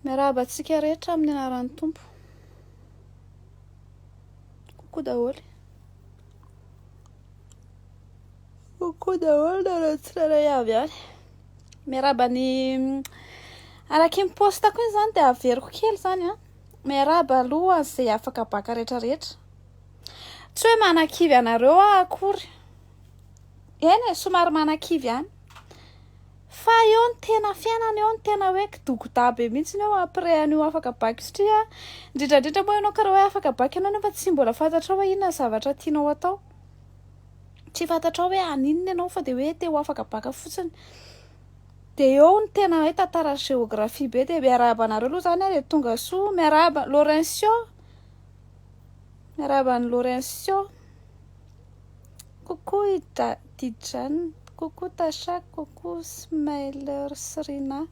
Miarahaba antsika rehetra amin'ny anaran'ny Tompo. Kokoa daholo. Kokoa daholo nareo tsirairay avy any. Miarahaba ny mm, araky ny postako iny zany dia averiko kely zany an. Miarahaba aloha izay afaka baka rehetra rehetra. Tsy hoe manakivy anareo aho akory. Eny e, somary manakivy ihany. Fa eo ny tena fiainana eo ny tena hoe kidogoda be mihitsy eo après an'io afaka bac satria a indrindra indrindra moa ianao ka raha hoe afaka bac ianao nefa tsy mbola fantatrao hoe inona ny zavatra tianao atao tsy fantatrao hoe haninona ianao fa dia hoe te ho afaka bac fotsiny dia eo ny tena hoe tantara sy géographie be dia miarahaba anareo aloha izany ary dia tonga soa miarahaba Laurencio miarahaba an'i Laurencio Coucou i Daddy Jane, coucou Tasha, coucou Smiler sy Rina.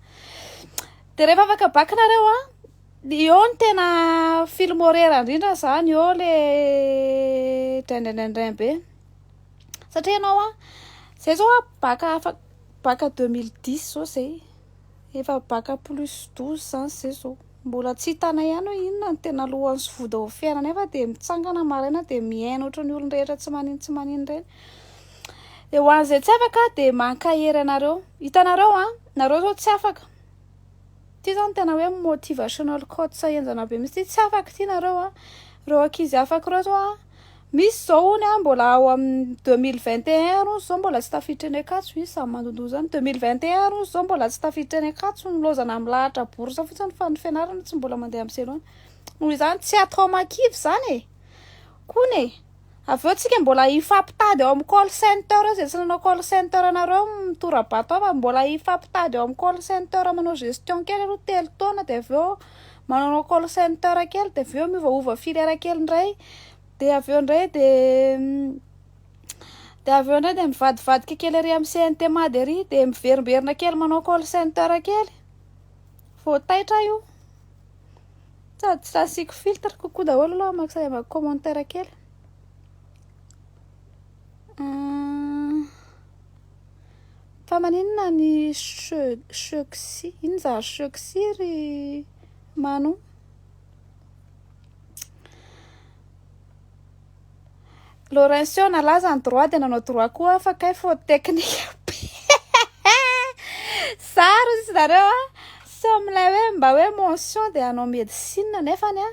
Dia rehefa afaka bac nareo an, eo ny tena film horaire indrindra izany eo le draindraindraindrain be. Satria ianao an, izay izao an, bac afaka, bac deux mille dix izao izay, efa bac plus douze izany izay izao. Mbola tsy hitanay ihany hoe inona no tena lohany sy voda ao fiainana nefa dia mitsangana maraina dia mihaino ohatry ny olon-drehetra tsy manino tsy manino ireny. Dia ho an'izay tsy afaka aho dia mankahery anareo. Hitanareo an, nareo izao tsy afaka. Ity izao no tena hoe motivational quotes henjana be mihitsy ity, tsy afaka ity nareo an. Ireo ankizy afaka ireo izao an. Misy zao hono a mbola ao amin'ny deux mille vingt et un hono zao mbola tsy tafiditra any Ankatso izy samy mandondona zany deux mille vingt et un hono zao mbola tsy tafiditra any Ankatso ny laozana milahatra bourse fotsiny fa ny fianarana tsy mbola mandeha amin'ny zero any noho izany tsy atao ama kivy zany e koa ne avy eo tsika mbola hifampitady ao amin'ny call center eo zay tsy nanao call center anareo mitorabato ao fa mbola hifampitady ao amin'ny call center manao gestion kely aloha telo taona de avy eo manao call center kely de avy eo miovaova filière kely ndray de avy eo ndray de de avy eo ndray de mivadivadika kely ary amin'ny CNT Mady ary de miverimberina kely manao call center kely vao taitra aho io sady tsy asiako filtre coucou daholo aloha maka sady maka commentaire kely Fa maninona ny choxy? Inona zany choxy ry Manou? Laurencio nalaza ny droit dia nanao droit koa fa kay faute technique be. Zaro izy nareo a. Sao milay hoe mba hoe mention dia hanao médecine nefany a.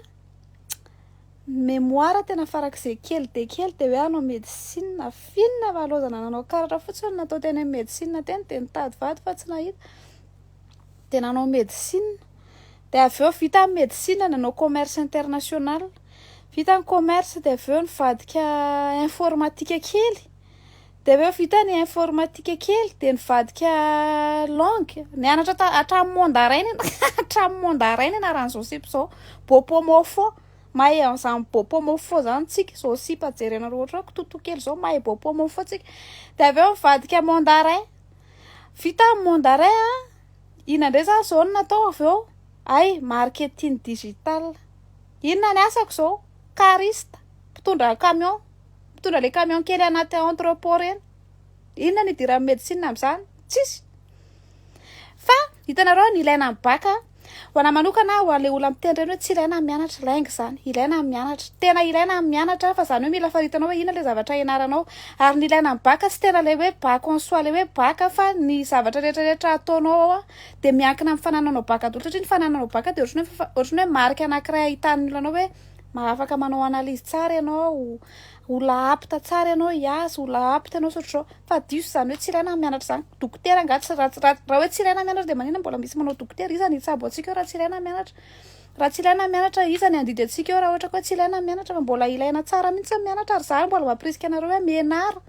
Ny memoire tena farak'izay kely dia kely dia hoe hanao medecine. F'inona va laozana nanao karatra fotsiny natao teny amin'ny medecine teny dia nitady vady fa tsy nahita dia nanao medecine. Dia avy eo vita ny medecine nanao commerce international. Vita ny commerce dia avy eo nivadika informatique kely. Dia avy eo vita ny informatika kely dia nivadika langue. Nianatra ta- hatramin'ny mandarin ny anà- hatramin'ny mandarin ny anaran'ny Josip izao. Bopomofo. Mahay an'izany bopomofo izany tsika. Josip jerenareo ohatran'ny kitoto kely izao, mahay bopomofo tsika. Dia avy eo nivadika mandarin. Vita ny mandarin an, inona indray izany izao no natao avy eo? Hay, marketing digital. Inona ny asako izao? Cariste, mpitondra camion. Mitondra le camion kely anaty entrepot reny. Inona no idiran'ny medecine amin'izany? Tsisy. Fa hitanareo ny ilaina ny bac a, ho anahy manokana ho an'ilay olona miteny ireny hoe tsy ilaina ny mianatra, lainga izany. Ilaina ny mianatra. Tena ilaina ny mianatra fa izany hoe mila faritanao hoe inona ilay zavatra ianaranao. Ary ny ilaina ny bac tsy tena ilay hoe bac en soi ilay hoe bac fa ny zavatra rehetra rehetra ataonao ao a dia miankina amin'ny fanananao bac daholo satria ny fanananao bac dia ohatran'ny hoe ohatran'ny hoe marika anankiray ahitan'ny olona anao hoe ma afaka manao analyse tsara ianao, olona apte tsara ianao hiasa, olona apte ianao tsy ohatr'izao, fa diso izany hoe tsy ilaina ny mianatra izany, dokotera angaha tsy raha raha raha hoe tsy ilaina ny mianatra dia maninona mbola misy manao dokotera, iza no hitsabo antsika eo raha tsy ilaina ny mianatra, raha tsy ilaina ny mianatra iza no handidy antsika eo raha ohatra ka hoe tsy ilaina ny mianatra fa mbola ilaina tsara mihitsy ny mianatra ary za mbola mampirisika anareo hoe mianara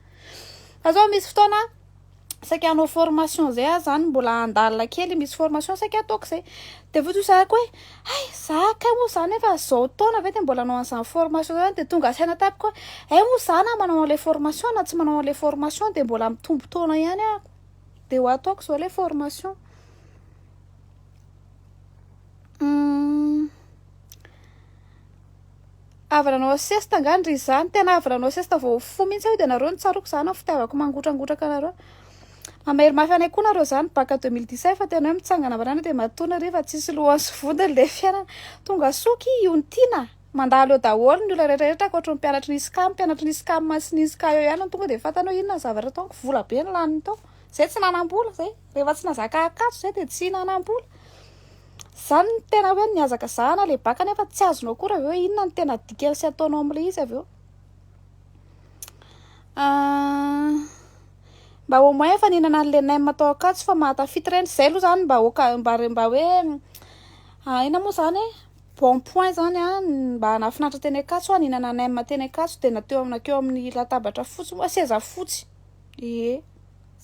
fa zao misy fotoana saika hanao formation zay ah zany mbola handalina kely misy formation saika ataoko zay de vao tozahako hoe hay za kay moa zany efa zao taona ve de mbola hanao an'izany formation zany de tonga saina tamiko hoe hay moa za na manao an'ilay formation na tsy manao an'ilay formation de mbola mitombo taona ihany ah de ho ataoko zao ilay formation Avy nanao siesta angany ry za, tena avy nanao siesta vao fo mihintsy aho, de nareo no tsaroako za na ny fitiavako mangotrangotranka anareo, mamery mafy anay koa nareo za, nibacc deux mille dix-sept fa tena hoe mitsangana marina de matoana re fa tsisy lohany sy vodiny le fiainana, tonga soa ki io ny tiana, mandalo eo daholo ny olona rehetra ankoatry ny mpianatry ny ISCAM, mpianatry ny ISCAM sy ny ISCA eo ihany no tonga de fantany hoe inona ny zavatra ataoko, vola be no laniny tao, zay tsy nanam-bola zay, rehefa tsy nazaka akatso zay de tsy nanam-bola. Zany no tena hoe nihazakazahana le baka nefa tsy azonao akory avy eo inona no tena dikany sy ataonao am le izy avy eo. Ah, mba au moins efa nihinana an'le nem tao Ankatso fa mahatafita ireny, zay aloha zany mba oka- mba mba hoe ahiana moa zany e, bon point zany an, mba nahafinaritra teny Ankatso an, nihinana nem teny Ankatso de na teo am- na keo amin'ny latabatra fotsy moa, seza fotsy, ie.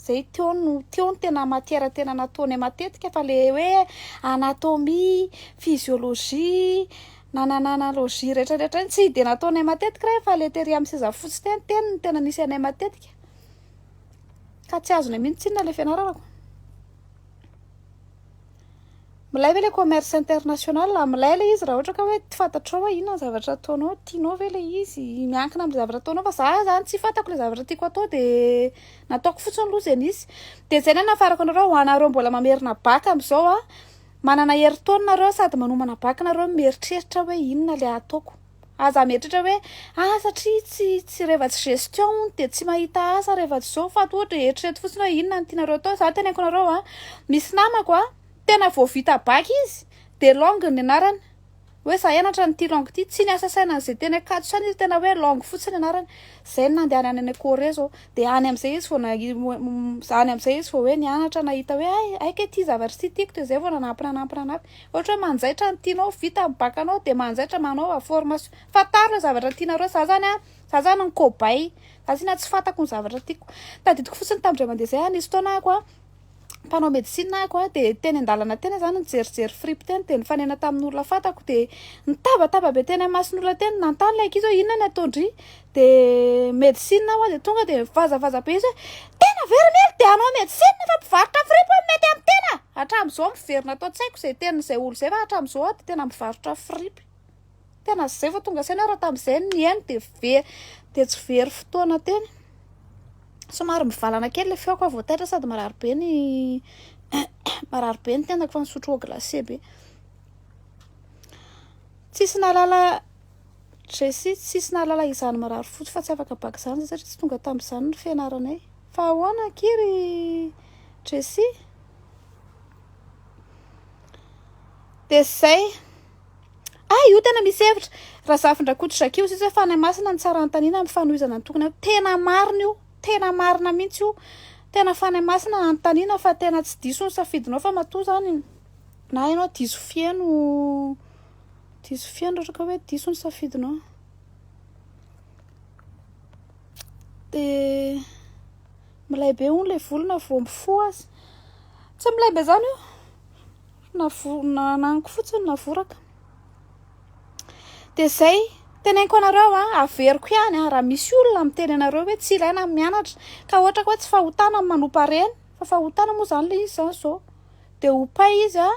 Zay teo no teo ny tena matière tena nataonay matetika fa le hoe anatomie, physiologie, nanananalogie retraretra iny tsy de nataonay matetika reny fa le tery amin'ny seza fotsy teny teny no tena nisy anay matetika ka tsy azonay mihintsy tsinona le fianarana ko. Milay ve le commerce international? Milay le izy raha ohatra ka hoe tsy fantatrao hoe inona ny zavatra ataonao, tianao ve le izy? Miankina amin'ny zavatra ataonao fa za zany tsy fantako le zavatra tiako atao de nataoko fotsiny aloha ze nisy. De zay no anafarako anareo ho anareo mbola mamerina bac am'zao a, manana herintaona nareo sady manomana bac nareo no mieritreritra hoe inona le ataoko. Aza hametratra hoe ah satria tsy tsy rehefa tsy gestion hono dia tsy mahita asa rehefa tsy izao fa ohatra eritrereto fotsiny hoe inona no tianareo atao za teneniko anareo a misy namako a tena vao vita bac izy dia langue ny anarany hoe za hianatra an'ity langue ity tsy niasa saina an'izay teny Ankatso saina izy tena hoe langue fotsiny anarany izay no nandehany any any Corée izao dia any amin'izay izy vao na- any amin'izay izy vao hoe nianatra nahita hoe hay hay kay ity zavatra ity tiako dia izay vao nanampy nanampy nanampy Ohatra hoe manjaitra ny tianao ho vita ny bac anao dia manjaitra manaova formation. Fantaro ireo zavatra tianareo. Izaho izany an, izaho izany ny cobaye. Izaho tsinona tsy fantako ny zavatra tiako. Tadidiko fotsiny tamin'indray mandeha izay an, nisy fotoana ahako an, mpanao médecine ahako an, dia teny an-dalana teny izaho no nijerijery fripy teny, dia nifanena tamin'olona fantako, dia nitabataba be teny amin'ny mason'olona teny, nanontany ilay ankizy hoe inona no ataon-dry? de medecine hoa de tonga de mivazavaza be izy hoe tena very mihely de hanao medecine fa mpivarotra fripp hoa mety amin'ny tena hatramin'izao miverina ato an-tsaiko izay tenin'izay olo izay fa hatramin'izao hoa de tena mivarotra fripp tena zay vao tonga saina raha tamin'izay ny nihaino de very de tsy very fotoana teny somary mivalana kely le feoko hoa vao taitra sady marary be ny marary be ny tenako fa nisotro eau glacée be tsisy nahalala Jessie, Tsisy nahalala izany mirary fotsy fa tsy afaka baka izany izahay satria tsy tonga tamin'izany ny fianaranay. Fa ahoana akia ry Jessie? Dia izay. Ah, io tena misy hevitra. Razafindrakoto Jackie, Hoy Jesoa hoe Fanahy Masina no tsara hanontaniana amin'ny fanohizana ny tokony hatao. Tena marina io, tena marina mihitsy io. Tena Fanahy Masina hanontaniana fa tena tsy diso ny safidinao fa matoa izany na ianao diso fiheno. Diso fiainana ohatra ka hoe diso ny safidinao. Dia milay be hono ilay volo na vao mifoha aza. Tsy milay be izany io. Na vo- na ananako fotsiny na voraka. Dia izay, teneniko anareo an, averiko ihany an, raha misy olona miteny anareo hoe tsy ilaina ny mianatra ka ohatra ka hoe tsy fahotana ny manompa ireny fa fahotana moa izany ilay izy izany izao dia ho pay izy an.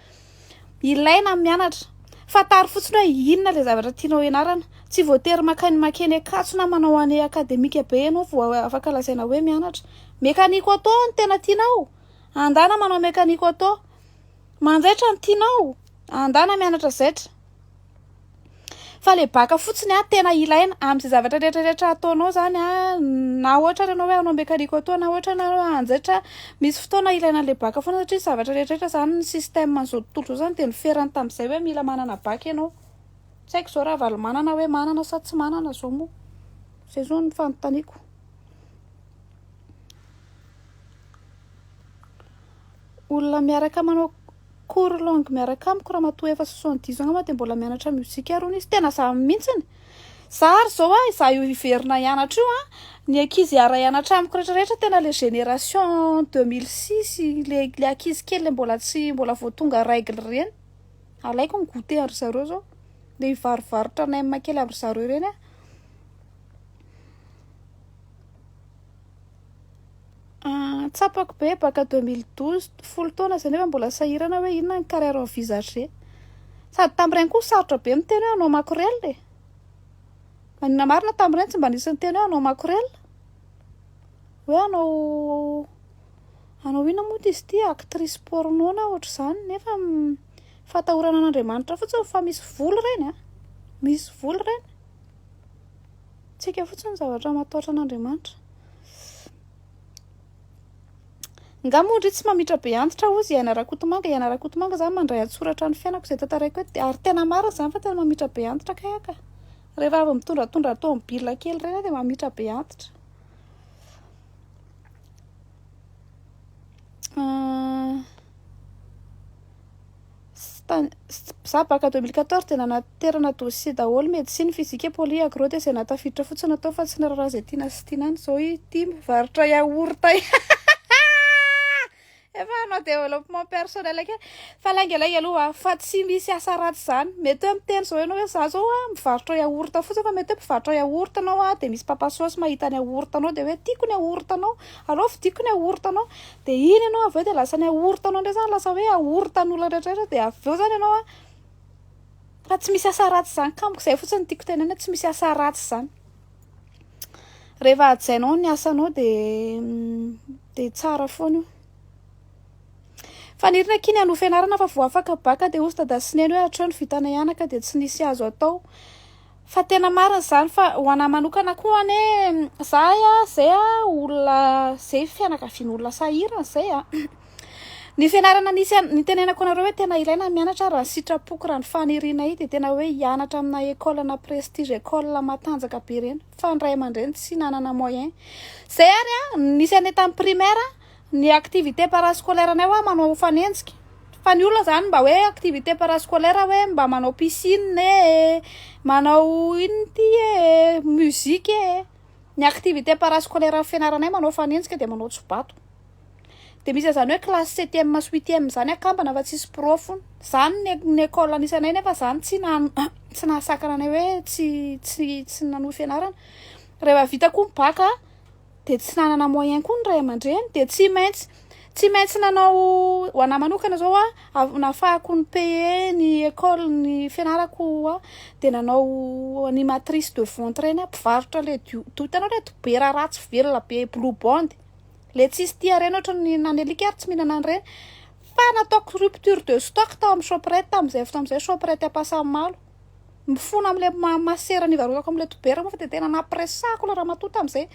Ilaina ny mianatra. Fantaro fotsiny hoe inona ilay zavatra tianao ianarana. Tsy voatery makany makeny Ankatso na manao année académique be ianao vao afaka lazaina hoe mianatra. Mécanique auto no tena tianao? Andana manao mécanique auto. Manjaitra no tianao? Andana mianatra zaitra. fa le baka fotsiny a tena ilaina amin'izay zavatra rehetra rehetra ataonao zany a na ohatra ary ianao hoe hanao mekanique auto na ohatra ianao hanjaitra misy fotoana ilaina le baka foana satria zavatra rehetra rehetra zany ny système an'izao tontolo izao zany dia niferany tamin'izay hoe mila manana baka ianao tsy haiko izao ravalomanana hoe manana sa tsy manana zao moa izay zao no fanontaniako olona miaraka manao Cours longue miaraka amiko ramatoa efa soixante dix ans mantsy dia mbola mianatra musique ary hono izy tena za mintsiny za ary zao a za io hiverina hianatra io a ny ankizy hiara hianatra amiko rehetra rehetra tena le génération deux mille six le le ankizy kely le mbola tsy mbola vao tonga règle ireny alaiko ny goûter an-dry zareo zao le hivarovarotra nem kely an-dry zareo ireny a Ah, tsapako be, baka 2012, folo taona zay nefa mbola sahirana hoe inona ny carrière envisagée. Sady tamin'ireny koa sarotra be miteny hoe hanao makorel e! Maninona marina tamin'ireny tsy mba nisy niteny hoe hanao makorel? Hoe hanao hanao inona moa izy ity? Actrice porno na ohatr'izany nefa fahatahorana an'Andriamanitra fotsiny fa misy vola ireny a! Misy vola ireny. Tsika fotsiny zavatra mataotra an'Andriamanitra. Nga moa ndry tsy mamitra be antitra ozy iaina rakotomanga iaina rakotomanga zany mandray antsoratra ny fiainako zay tantaraiko eto ary tena marina zany fa tena mamitra be antitra kay aka re raha avy mitondratondra tomobile kely reny de mamitra be antitra ah. Za baka 2014 dia nanaterana dossier daholo medecine, physique, poly, agro dia izay nahatafiditra fotsiny natao fa tsy niraharaha izay tiana sy tiana any, zao ity mivarotra yaourt efa hanao développement personnel kely fa lainga lainga aloha ah fa tsy misy asa ratsy zany, mety hoe miteny zao ianao hoe za zao ah mivarotra yaourt fotsiny fa mety hoe mpivarotra yaourt ianao ah de misy mpapa sôsy mahita ny yaourt anao de hoe tiako ny yaourt anao. Aleo fidiko ny aorontanao dia iny ianao avy eo dia lasa ny aorontanao indray zany lasa hoe aorontan'olona rehetrarehetra dia avy eo zany ianao a fa tsy misy asa ratsy zany ka amiko zay fotsiny tiako tenenina hoe tsy misy asa ratsy zany rehefa hajainao ny asanao de de tsara foana io fanirina akia ny hanohy fianarana fa vao afaka baka de hozy dada sy neny hoe hatreo ny vitanay anaka de tsy nisy azo atao Fa tena marina izany fa ho anah manokana koa anie zahay a zay a olona zay fianakavian'olona sahirana zay a ny fianarana nisy an- nitenenako anareo hoe tena ilaina ny mianatra raha ny sitrapoko raha ny fanirianay dia tena hoe hianatra amina école ana prestige école matanjaka be ireny fa ny ray aman-dreny tsy nanana moyen zay ary a nisy anay tamin'ny primaire Ny activité parascolaire nay hoa manao ho fanenjika fa ny olona zany mba hoe activité parascolaire hoe mba manao piscine e manao inona ity e musique e ny activité parascolaire ny fianaranay manao fanenjika de manao tsobato de misy an'izany hoe classe septième sy huitième zany akambana fa tsisy pro fona zany ny ny école anisanay nefa zany tsy nan- tsy nahasakana anay hoe tsy tsy tsy nanohy fianarana rehefa vita koa ny bac dia tsy nanana moyen koa ny ray aman-dreny dia tsy maintsy tsy maintsy nanao ho anahy manokana zao a nafahako ny paye ny école ny fianarako a dia nanao ny matrice de vente ireny aho mpivarotra le dio to hitanao le dobera ratsy velona be blue bond le tsisy tia ireny ohatra ny any alika ary tsy mihinana an'ireny fa nataoko rupture de stock tao amin'ny shoprite tamin'izay fotoana izay shoprite ampasanimalo mifona amle ma masera ny varotako amle dobera moa fa de tena nampiresahako le ramatoa tamzay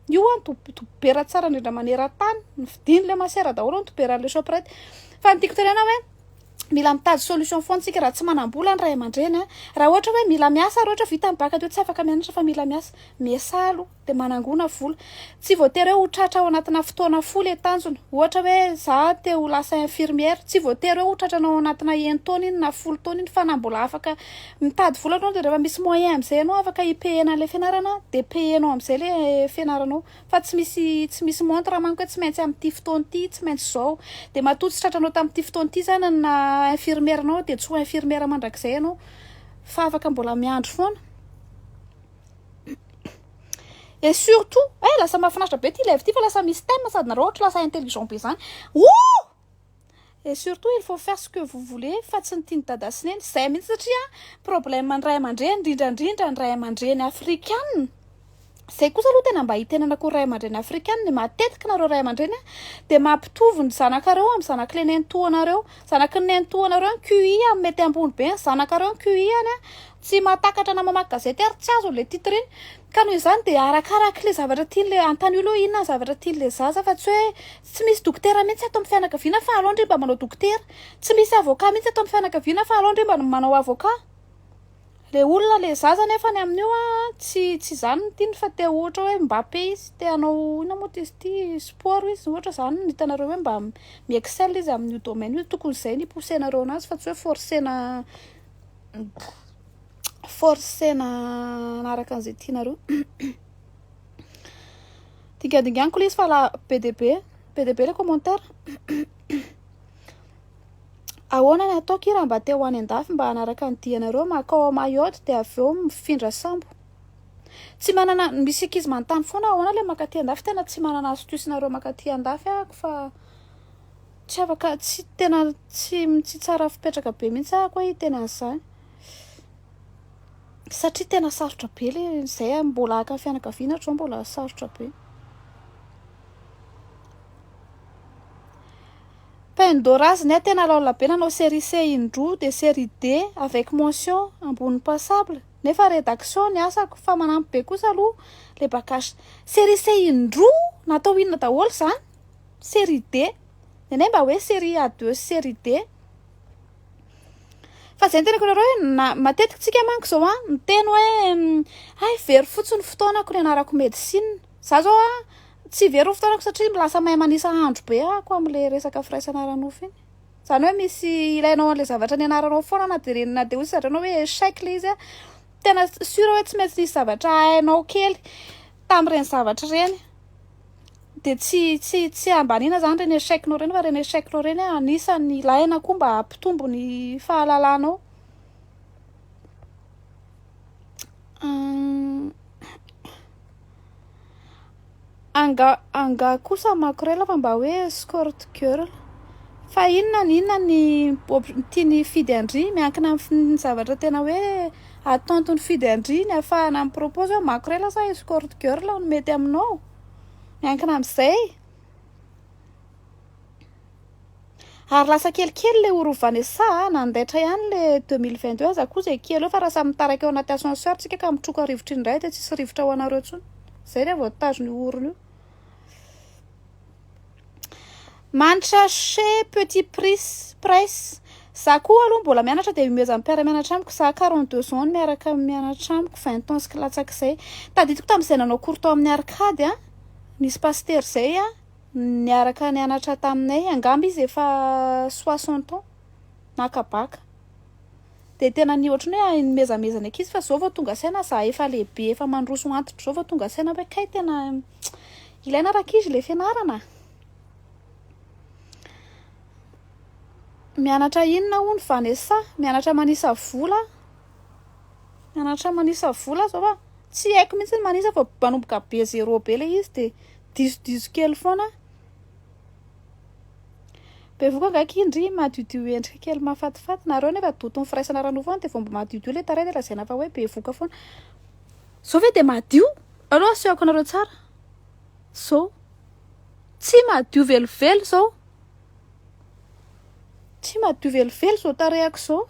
io hoa ny dob- dobera tsara indrindra manerantany ny vidiny le masera daholo ny doberanle shoprite fa ny tiako tenena hoe mila mitady solution foana tsika raha tsy manambola ny ray amandreny a raha ohatra hoe mila miasa ary ohatra vita ny bac de tsy afaka mianatra fa mila miasa miesah aloha dia manangona vola. Tsy voatery hoe ho tratra ao anatina fotoana fohy ilay tanjona. Ohatra hoe za te ho lasa infirmière, tsy voatery hoe ho tratranao ao anatina enin-taona iny na folo taona iny fa na mbola afaka mitady vola ianao dia rehefa misy moyen amin'izay ianao afaka hi-payer-na an'ilay fianarana dia payer-nao amin'izay ilay fianaranao fa tsy misy tsy misy montre manko hoe tsy maintsy amin'ity fotoana ity, tsy maintsy izao. Dia matoa tsy tratranao tamin'ity fotoana ity izany ny naha infirmière anao dia tsy ho infirmière mandrakizay ianao fa afaka mbola miandry foana. Et surtout, eh lasa mahafinaritra be ity live ity fa lasa misy thème sady nareo ohatry lasa intelligent be zany. Ouh! Et surtout, il faut faire ce que vous voulez fa tsy ny tian'i dada sy neny. Zay mihitsy satria problème ny ray aman-dreny, indrindra indrindra ny ray aman-dreny afrikana. Zay kosa aloha tena mba itenanako ny ray aman-dreny afrikana, ny matetika nareo ray aman-dreny dia mampitovy ny zanakareo amin'ny zanak'le nenitoanareo. Zanaky ny nenitoanareo ny QI an, mety ambony be ny zanakareo ny QI any an, tsy mahatakatra na mamaky gazety ary tsy azony le titre iny, ka noho izany dia arakaraky le zavatra tiany le antanio aloha inona ny zavatra tiany le zaza fa tsy hoe tsy misy dokotera mihintsy ato amin'ny fianakaviana fa aleo ndry mba manao dokotera, tsy misy avocat mihintsy ato amin'ny fianakaviana fa aleo ndry mba manao avocat. Le olona le zaza nefany amin'io a tsy tsy zany ny tiany fa te ohatra hoe Mbappé izy te hanao inona moa izy ity sport izy ohatra zany no hitanareo hoe mba mi excelle izy amin'io domaine io tokony zay no hipoussenareo anazy fa tsy hoe forcena forcena hanaraka an'izay tianareo dingadinganiko le izy fa la be de be be de be le commentaire Ahoana ny ataoko i raha mba te ho any andafy mba hanaraka ny dianareo makao ao Mayotte dia avy eo mifindra sambo? Tsy manana, misy ankizy manontany foana ahoana ilay makaty andafy, tena tsy manana astuce nareo makaty andafy ahako fa tsy afaka, tsy tena tsy tsy tsara fipetraka be mihitsy ahako hoe hiteny an'izany satria tena sarotra be le izay ah, mbola haka fianakaviana hatrao mbola sarotra be. Pain Dora znia tena laola be nanao serie C indroa de serie D avec mention ambony passable nefa redaction ny asako fa manampy be kosa aloha le bacach serie C indroa natao inona daholo zany serie D ny anay mba hoe serie A deux sy serie D fa zay ny tenako nareo hoe na matetiky tsika manko zao an miteny hoe hay very fotsiny fotoanako ny anarako medecine Za zao a, tsy very ny fotoanako satria lasa mahay manisa andro be ako amin'ilay resaka firaisana ara-nofo iny. Izany hoe misy ilainao an'ilay zavatra nianaranao foana na dia na dia hoy izy zareo hoe échec ilay izy a, tena sûr hoe tsy maintsy nisy zavatra hainao kely tamin'ireny zavatra ireny dia tsy tsy tsy ambaniana izany ireny échec-nao ireny fa ireny échec-nao ireny a, anisan'ny ilaina koa mba hampitombo ny fahalalanao. Angaha angaha kosa ny makorel fa mba hoe escort girl fa inona na inona ny tiany hifidy an-dry miankina amin'ny zavatra tena hoe attente nifidy an-dry ny afahana mi propose hoe makorel sa escort girl no mety aminao miankina amin'izay Ary lasa kelikely ilay oro Vanessa a! Nandaitra ihany ilay 2022 aza koa izay kely eo fa raha samy mitarika ao anaty ascenseur tsika ka mitroka rivotra indray dia tsisy rivotra ho anareo intsony. Izay ilay voatazona io orona io. Manitra chez petit pris price. Za koa aloha mbola mianatra dia miomehy amin'ny mpiara-mianatra amiko. Za 42 ans no miaraka mianatra amiko, 20 ans sy latsak'izay. Tadidiko tamin'izay nanao cours tao amin'ny Arcade a, nisy pasitera izay a, Niaraka nianatra taminay, angamba izy efa soixante ans naka bac. Dia tena ny ohatry ny hoe nimezameza ny ankizy fa izao vao tonga saina za efa lehibe efa mandroso antitra izao vao tonga saina hoe kay tena ilaina rankizy ilay fianarana a. Mianatra inona hono Vanessa? Mianatra manisa vola, mianatra manisa vola aho izao fa tsy haiko mihitsy ny manisa fa manomboka be zéro be ilay izy dia. Disodiso kely foana. Bevoka angaha akia ndry madiodio endrika kely mahafatifaty. Nareo nefa doton'ny firaisana ara-nofo foana dia vao mba madiodio ilay tarehy dia lazaina fa hoe bevoka foana. Zao ve dia madio? Aleo asehoko anareo tsara. Zao. Tsy madio velively izao. Tsy madio velively izao tarehiko izao.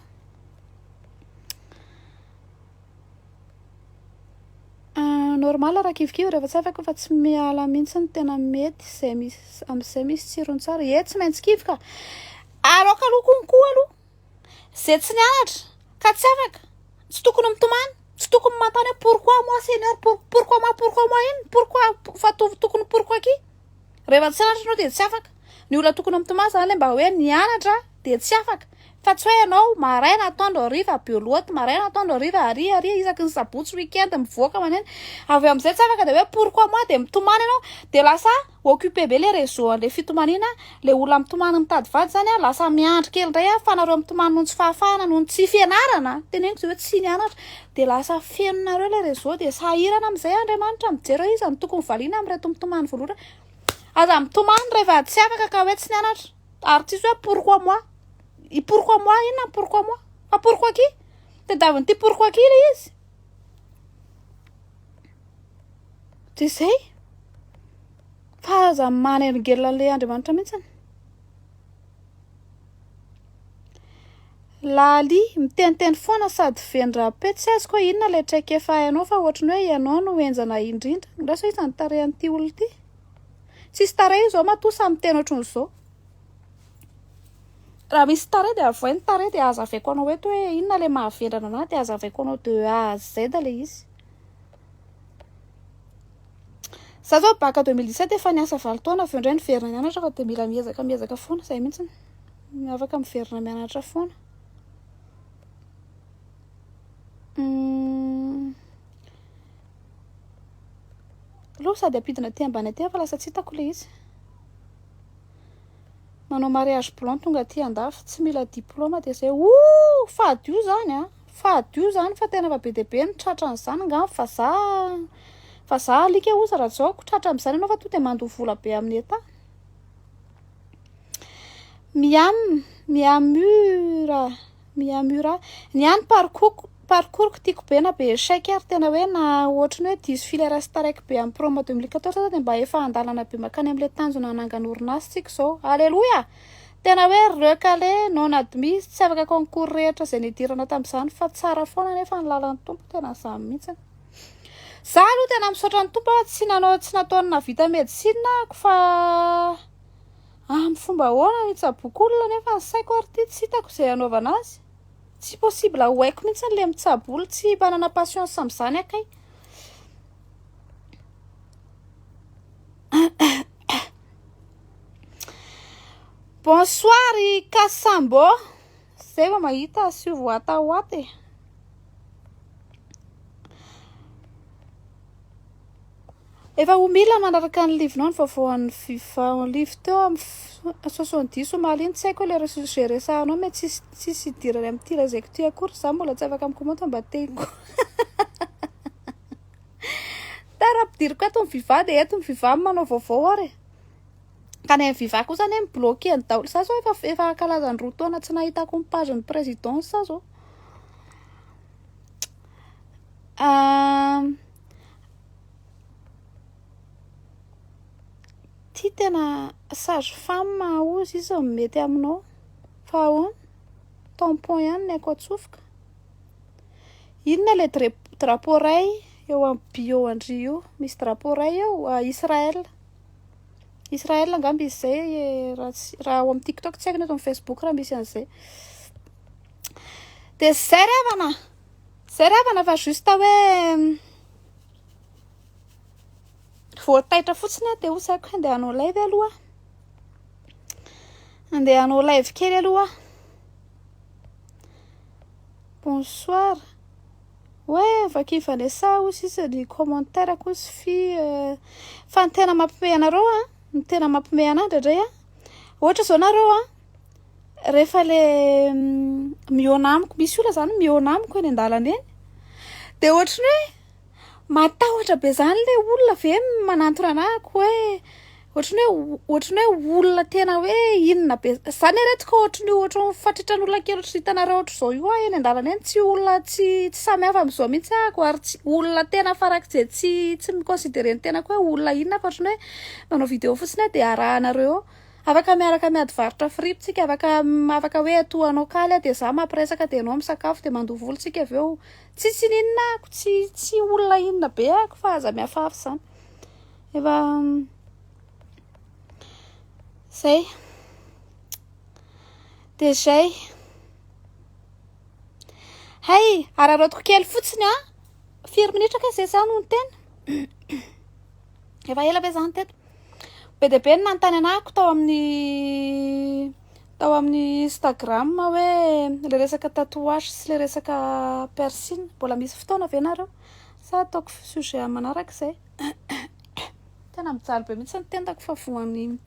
Normal raha kivikivy rehefa tsy afaka fa tsy miala mihitsy ny tena mety izay misy amin'izay misy tsirony tsara e tsy maintsy kivy ka aroka aloha konkoa aloha izay tsy nianatra ka tsy afaka tsy tokony mitomany tsy tokony mantany hoe pourquoi moi seigneur pourquoi moi pourquoi moi inn pourquoi fa tokony pourquoi qui Rehefa tsy anatra ianao dia tsy afaka. Ny olona tokony mitomany izany ilay mba hoe nianatra dia tsy afaka. Fa tsy hoe ianao maraina atoandro hariva belote, maraina atoandro hariva aria aria isaky ny sabotsy week-end mivoaka maneno. Avy eo amin'izay tsy afaka dia hoe pourquoi moi dia mitomany ianao. Dia lasa occupé be ilay réseau an'ilay fitomaniana. Ilay olona mitomany mitady vady izany lasa miandry kely indray fa nareo mitomany noho ny tsy fahafahana, noho ny tsy fianarana. Teneniko izay hoe tsy nianatra. Dia lasa feno nareo ilay réseau dia sahirana amin'izay Andriamanitra mijery hoe iza no tokony valiana amin'ireto mitomany voalotra Aza mitomany rehefa tsy afaka ka hoe tsy nianatra ary tsisy hoe pourquoi moi I pourquoi moi inona ny pourquoi moi fa pourquoi qui tadiavin'ity pourquoi qui ilay izy dia zay fa aza manelingelina an'ilay Andriamanitra mihitsy Laali, miteniteny foana sady feno rap-e, tsy azoko hoe inona ilay traikefa hainao fa ohatran'ny hoe ianao no henjana indrindra, angaha sao iza no tarehy an'ity olona ity? Tsisy tarehy io izao matoa samy miteny ohatran'izao, raha misy tarehy dia avohay ny tarehy dia hazavaiko anao eto hoe inona ilay mahavendrana an'ahy dia hazavaiko anao de A à Z ilay izy. Za zao baka deux mille dix sept efa niasa valo taona avy eo indray niverina nianatra fa dia mila miezaka miezaka foana izay mihitsy no afaka miverina mianatra foana hmm. aloha sady ampidina aty ambany aty fa lasa tsy hitako ilay izy manao mariage blanc tonga aty andafy tsy mila diplôma dia izay o fadio izany a ah. Fa adio zany fa tena efa be dia be ny tratra an'izany angamba fa za fa za alika oza raha zao ko tratra am'izany ianao fa tonga dia mandoa vola be amin'ny etat miam miamura miamura ny ahy ny parcours parcours-ko tiako be na be échec ary tena hoe na ohatry ny hoe diso filera sy taraiky be amin'ny promo deux mille quatorze aza dia mba efa an-dalana be mankany amin'ilay tanjona nanangana orinasa isika izao aleloia Tena hoe recalé, non admis, tsy afaka concours rehetra izay nidiranao tamin'izany fa tsara foana anefa ny lalan'ny Tompo, tena izany mihitsy. Za aloha tena misaotra ny Tompo tsy nanao tsy nataony navita médecine ako fa amin'ny fomba ahoana ny hitsaboako olona nefa ny saiko ary ity tsy hitako izay hanaovana azy. Tsy possible ho haiko mihitsy ilay mitsabo olona, tsy manana patience amin'izany aho kay. Bonsoir i Kasambo. Zay vao mahita azy io voatahota e. Efa ho mila manaraka ny livinao ny vaovaoan'ny fifa live teo amin'ny soixante-dix omaly iny. Tsy haiko ilay res- izay resahanao mais tsisy tsisy idirany amin'ity lazaiko ity akory. Za mbola tsy afaka mi-commenter mba tengo. Tara ampidiriko ato ny fifa dia eto ny fifa manao vaovao ary e. Ka ny FVVA kosa anie mi-bloquer ny daoly. Za zao efa efa ankalaza ny roa taona tsy nahitako ny page ny présidence za zao. Ahh. Ty tena sage femme hozy izy no mety aminao fa ahoana? Tampon ihany ny aiko atsofoka. Inona ilay dra-drapeau iray eo amin'ny bio an-dry io? Misy drapeau iray eo, Israël. Israel angamba izy zay eh, raha tsy raha ao amin'ny TikTok tsy haiko nefa amin'ny Facebook raha misy an'izay. Dia zay revana. Zay revana fa juste hoe voataitra fotsiny aho dia hosaiko handeha hanao live aloha. Handeha hanao live kely aloha. Bonsoir. Hoe vaky Vanessa hoy sisa ny commentaire ko sy fy fa ny tena mampime anareo an ny tena mampime anah indraindray an ohatra zao nareo an rehefa le mihaona amiko misy olona zany mihaona amiko eny andalana eny de ohatry ny hoe matahotra be zany le olona ve manantona anah ko hoe Ohatran'ny hoe ohatran'ny hoe olona tena hoe inona be zany ireto ka ohatran'ny ohatran'ny fatritran'olona kely ohatry ny hitanareo ohatr'izao io aho eny an-dalana eny tsy olona tsy tsy samy hafa amin'izao mihitsy ahako ary tsy olona tena farak'izay tsy tsy mi-considerer ny tenako hoe olona inona fa ohatran'ny hoe manao video fotsiny aho dia arahanareo eo. Afaka miaraka miady varotra fripy tsika afaka afaka hoe atoa anao kaly aho dia zah mampiresaka dia ianao misakafo dia mandoa vola tsika avy eo tsisy iniana ahako tsy tsy olona inona be ahako fa aza miafafy zany. efa zay de zay hay araraotiko kely fotsiny a firy minitra kay zay zah no niteny efa ela ve zah niteny be de be ny nanontany anahiko tao amin'ny tao amin'ny instagram hoe le resaka tatouage sy le resaka piercing mbola misy fotoana ve nareo sa ataoko sujet aman'araka zay Tena mijaly be mihitsy ny tendako fa voan'ny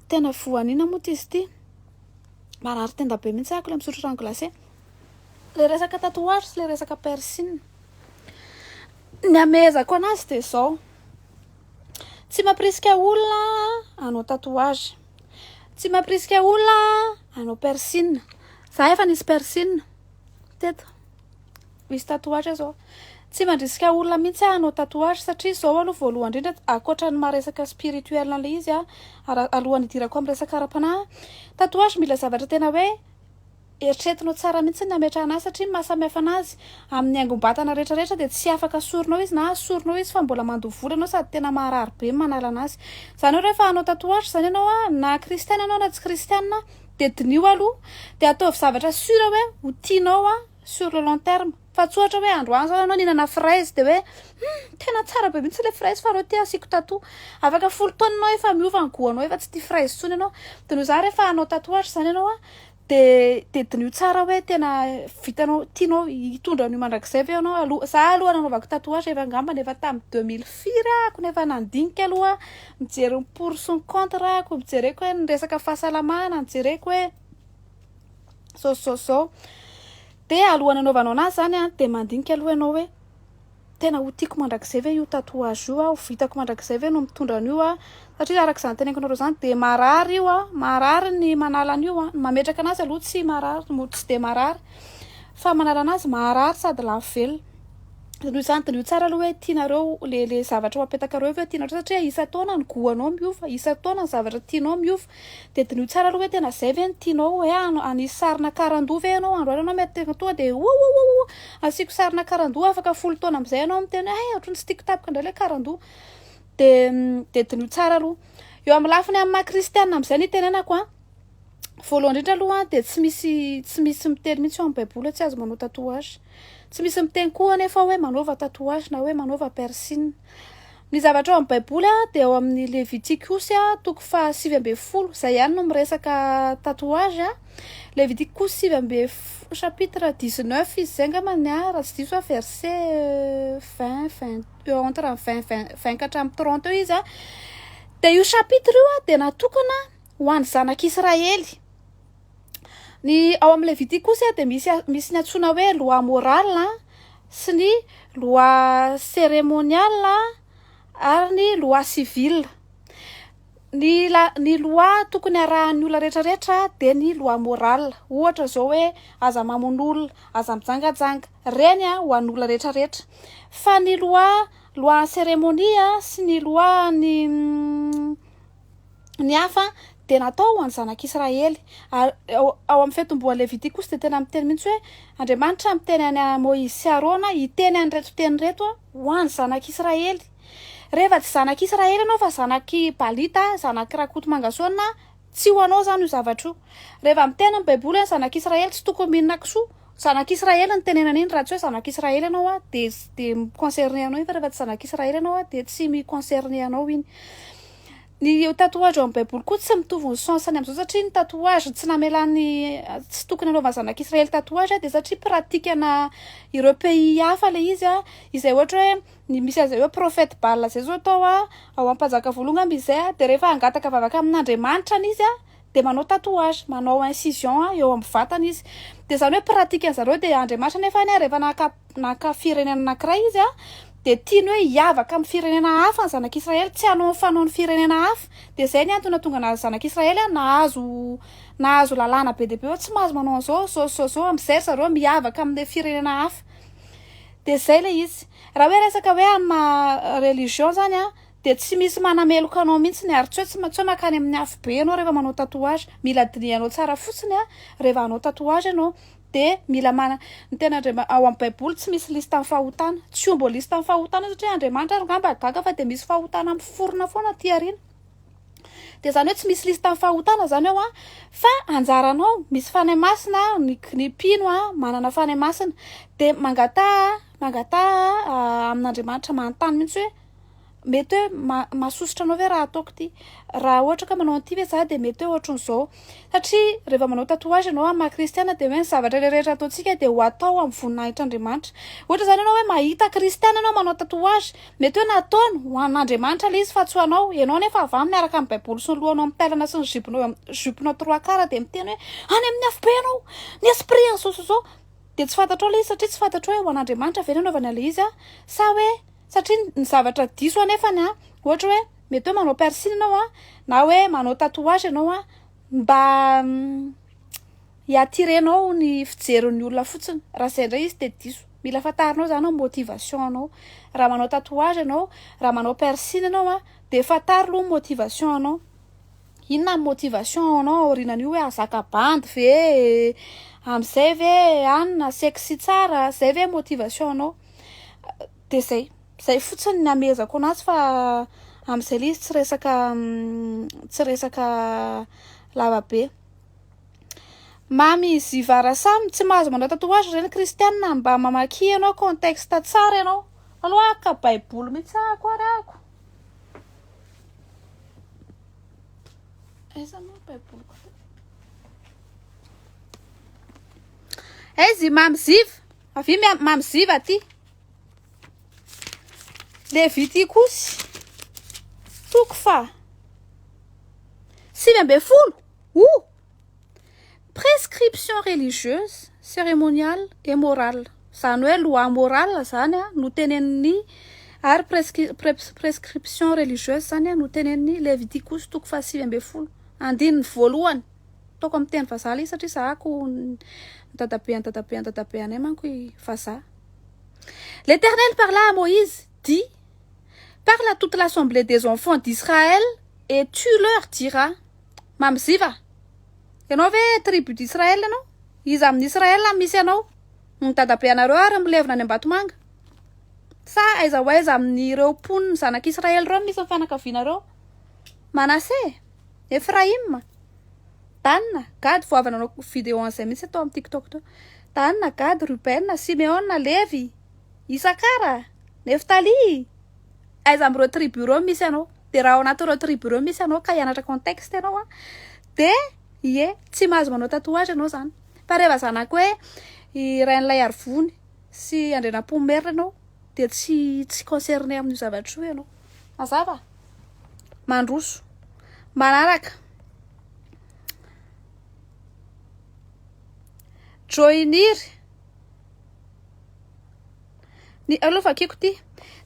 tena voan'ina moa izy ity. Marary tenda be mihitsy ako le misotro rano glacé. Le resaka tatouage sy le resaka piercing. Ny amehezako anazy dia zao. Tsy mampirisika olona hanao tatouage. Tsy mampirisika olona hanao piercing. Za efa nisy piercing teto. Misy tatouage zao Tsy mandrisika olona mihitsy aho hanao tatouage satria izao aloha voalohany indrindra ankoatra ny maha resaka spirituel an'ilay izy a ara- alohan'ny hidirako amin'ny resaka ara-panahy a, tatouage mila zavatra tena hoe eritreretinao tsara mihitsy ny hametrahana azy satria ny maha samy hafa anazy amin'ny haingom-batana rehetrarehetra dia tsy afaka sorinao izy na sorinao izy fa mbola mandoa vola ianao sady tena maharary be ny manala anazy izany hoe rehefa hanao tatouage izany ianao a na kristiana ianao na tsy kristiana dia diniho aloha dia ataovy zavatra sur hoe ho tianao a sur le long terme fa tsy ohatra hoe androany zao ianao nihinana fraise dia hoe hum tena tsara be mihitsy ilay fraise fa reo ty asiako tatou afaka folo taona ianao efa miova ny goût anao efa tsy tia fraise intsony ianao dia noho izany rehefa hanao tatouage izany ianao a dia dia diniho tsara hoe tena vitanao tianao hitondra an'io mandrakizay ve ianao aloha izaho aloha nanaovako tatouage efa angambany efa tamin'ny deux mille firy ah ko nefa nandinika aloha mijery ny pour sy ny contre ah ko nojereko hoe ny resaka fahasalamana nojereko hoe so so so de alohan'ny anaovanao anazy zany a de mandinika aloha ianao hoe tena ho tiako mandrakizay ve io tatouage io aho vitako mandrakizay ve no mitondra an'io aho satria araka izany teneniko anareo zany de marary io a marary ny manala an'io a mametraka anazy aloha tsy marary mo tsy de marary fa manala anazy marary sady lafo velona de noho izany diniho tsara aloha hoe tianareo le le zavatra ho apetakareo avy eo tianareo satria isan-taona ny goût-anao miova isan-taona ny zavatra tianao miova Dia diniho tsara aloha hoe tena izay ve no tianao hoe hanisy sarina karandoha ve ianao andro alina ianao mety tena tonga dia oouououou asiako sarina karandoha afaka folo taona amin'izay ianao miteny hoe hay ohatran'ny tsy tiako tapaka indray ilay karandoha dia dia diniho tsara aloha eo amin'ny lafiny amin'ny maha kristiana amin'izay ny itenenako a voalohany indrindra aloha a dia tsy misy tsy misy miteny mihitsy eo amin'ny baiboly hoe tsy azo manao tatouage tsy misy miteny koa anefa hoe manaova tatouage na hoe manaova piercing Ny zavatra ao amin'ny Baiboly dia ao amin'ny Levitiko osy toko faha sivy ambin'ny folo, izay ihany no miresaka tatouage, Levitiko koa sivy ambin'ny folo chapitre dix neuf izy izay angamba ny ahy raha tsy diso aho verset vingt vingt eo entre ny vingt vingt vingt ka hatramin'ny trente eo izy dia io chapitre io dia natokana ho an'ny zanak'Israely. Ny ao amin'ny Levitika kosa dia misy misy ny antsoina hoe loi morale sy ny loi cérémoniale ary ny loi civile. Ny la- ny loi tokony arahan'ny olona rehetra rehetra dia ny loi morale, ohatra izao hoe aza mamono olona, aza mijangajanga, ireny ho an'olona rehetra rehetra. Fa ny loi loi cérémonie sy ny loi ny Ny hafa dia natao ho an'ny zanak'Israely. Ary ao, ao amin'ny fiantombohan'ny Levity kosa dia tena miteny mihitsy hoe, Andriamanitra miteny an'i Moizy sy Arona hiteny an'ireto teny ireto ho an'ny zanak'Israely. Rehefa tsy zanak'Israely ianao fa zanak'i Balita, zanak'i Rakotomangasoana, tsy ho anao izany io zavatra io. Rehefa miteny ny Baiboly hoe ny zanak'Israely tsy tokony mihinana kisoa, zanak'Israely no tenenana iny, raha tsy hoe zanak'Israely ianao dia, dia mi-concerner anao iny, fa rehefa tsy zanak'Israely ianao dia tsy mi-concerner anao iny. Ny tatouage ao amin'ny baiboly koa tsy mitovy ny sens-ny amin'izao satria ny tatouage tsy namelan'ny tsy tokony hanaovan'ny zanak'israely tatouage dia satria pratique-na ireo pays hafa ilay izy an, izay ohatra hoe ny misy an'izay hoe prophète Baal izay zao atao an, ao amin'ny mpanjaka voalohany angamba izy izay an, dia rehefa hangataka vavaka amin'Andriamanitra an izy an, dia manao tatouage, manao incision eo amin'ny vatany izy. Dia izany hoe pratique an'i zareo. Dia Andriamanitra nefa anie rehefa naka naka firenena anankiray izy a, dia tiany hoe hiavaka amin'ny firenena hafa ny zanak'Israely, tsy hanao ny fanaon'ny firenena hafa. Dia izay ny antony nahatonga anazy zanak'Israely a nahazo nahazo lalàna be dia be hoe tsy mahazo manao an'izao, izao sy izao izao, amin'izay ry zareo miavaka amin'ilay firenena hafa. Dia izay ilay izy. Raha hoe resaka hoe amin'ny maha religion izany a, Dia tsy misy manameloka anao mihitsy ny ary tsy hoe tsy tsy hoe makany amin'ny afobe ianao rehefa manao tatouage, mila dinihanao tsara fotsiny an, rehefa hanao tatouage ianao dia mila mana, ny tena Andriama, ao amin'ny baiboly tsy misy liste ny fahotana, tsy homba liste ny fahotana satria Andriamanitra ary ngamba gaga fa dia misy fahotana miforona foana aty aoriana, dia izany hoe tsy misy liste ny fahotana izany ao an, fa anjaranao misy fanahy masina ny ny mpino an, manana fanahy masina dia mangataha mangataha amin'Andriamanitra manontany mihitsy hoe. mety hoe mahasosotra anao ve raha ataoko ity, raha ohatra ka manao an'ity ve za dia mety hoe ohatran'izao, satria rehefa manao tatouage ianao amin'ny maha kristiana dia hoe ny zavatra rehetra ataontsika dia ho atao amin'ny voninahitr'Andriamanitra, ohatra izany ianao hoe mahita kristiana ianao manao tatouage, mety hoe nataony ho an'Andriamanitra ilay izy fa tsy ho anao, ianao anefa avy aminy araka ny baiboly sy ny lohanao mitailana sy ny ziponao jupe-nao trois quarts dia miteny hoe any amin'ny afobe ianao, ny esprit izao sy izao, dia tsy fantatrao ilay izy satria tsy fantatrao hoe ho an'Andriamanitra ve ny hanaovany an'ilay izy sa hoe Satria ny zavatra diso anefany an, ohatra hoe mety hoe manao piercing ianao an, na hoe manao tatouage ianao an, mba hi-attirer-nao ny fijerin'ny olona fotsiny, raha izay indray izy dia diso. Mila fantarinao izany ny motivation-nao. Raha manao tatouage ianao, raha manao piercing ianao an, dia fantaro aloha ny motivation-nao. Inona ny motivation ao anao aorianan'io hoe hahazaka bandy ve e, amin'izay ve an, na sexy tsara, izay ve ny motivation-nao. dia zay zay fotsiny ny amehezako anazy fa amin'izay le izy tsy resaka tsy resaka lava be mamy zivara samy tsy mahazo manao tatouage reny kristianina mba mamaky ianao contexte tsara ianao aloha ka baiboly mihitsy ako ary ako aiza moa ny baiboliko aiza i mamy ziva Avy mia- mamy ziva ty. Levitikosy toko fa sivy ambin'ny folo o prescription religieuse cérémoniale et morale zany hoe loi morale zany a no tenenin'ny ary presqui- pres- prescription religieuse zany a no tenenin'ny levitikosy toko fa sivy ambin'ny folo andininy voalohany Ataoko amin'ny teny vazaha ilay satria zahako ny dadabe an'i dadabe an'i dadabe anay manko i vazaha. L'Éternel parla à Moïse, dit, Parle à toute l'assemblée des enfants d'Israël et tu leur diras, Mamiziva, ianao ve tribu d'Israël ianao? Iza amin'ny Israël misy anao? Ny dadabe anareo ary milevina any Ambatomanga? Sa aiza ho aiza amin'ireo mponin'ny zanak'Israël ireo no misy ny fianakavianareo? Manase? Efraima, Dana, Gady, vao avy nanao vidéo an'izay mihitsy tao amin'ny TikTok tao. Dana, Gady, Rubena, Simeona, Levy, Isakara, Neftaly, aiza amin'ireo tribu ireo misy anao? Dia raha ao anatin'ireo tribu ireo misy anao ka hianatra contexte ianao an, dia ie tsy mahazo manao tatouage ianao izany. Fa rehefa zanak'i hoe i Rainilaiarivony sy Andrianampoinimerina ianao dia tsy tsy concerné amin'io zavatra io ianao. Mazava? Mandroso. Manaraka. Joinir. Ny aloha vakiko ty.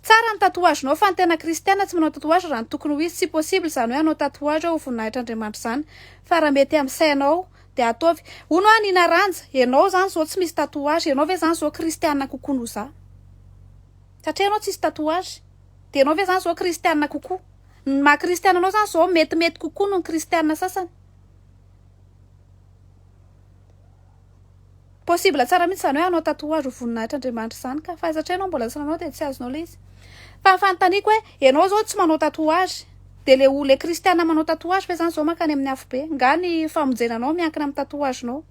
Tsara ny tatouage-nao fa ny tena kristiana tsy manao tatouage raha ny tokony ho izy tsy possible izany hoe hanao tatouage ho voninahitr'Andriamanitra izany fa raha mety amin'ny sainao dia ataovy. Hono an i Naranja, ianao izany izao tsy misy tatouage, ianao ve izany izao kristiana kokoa noho za? Satria ianao tsisy tatouage. Dia ianao ve zany zao kristiana kokoa? Ny maha kristiana anao zany zao metimety kokoa noho ny kristiana sasany? Possible tsara mihitsy izany hoe hanao tatouage ho voninahitr'Andriamanitra izany ka! Fa satria ianao mbola tsy nanao dia tsy azonao ilay izy. Fa fanontaniako hoe ianao zao tsy manao tatouage dia ilay olona kristiana manao tatouage ve zany zao mankany amin'ny afobe? Nga ny famonjena anao miankina amin'ny tatouage nao?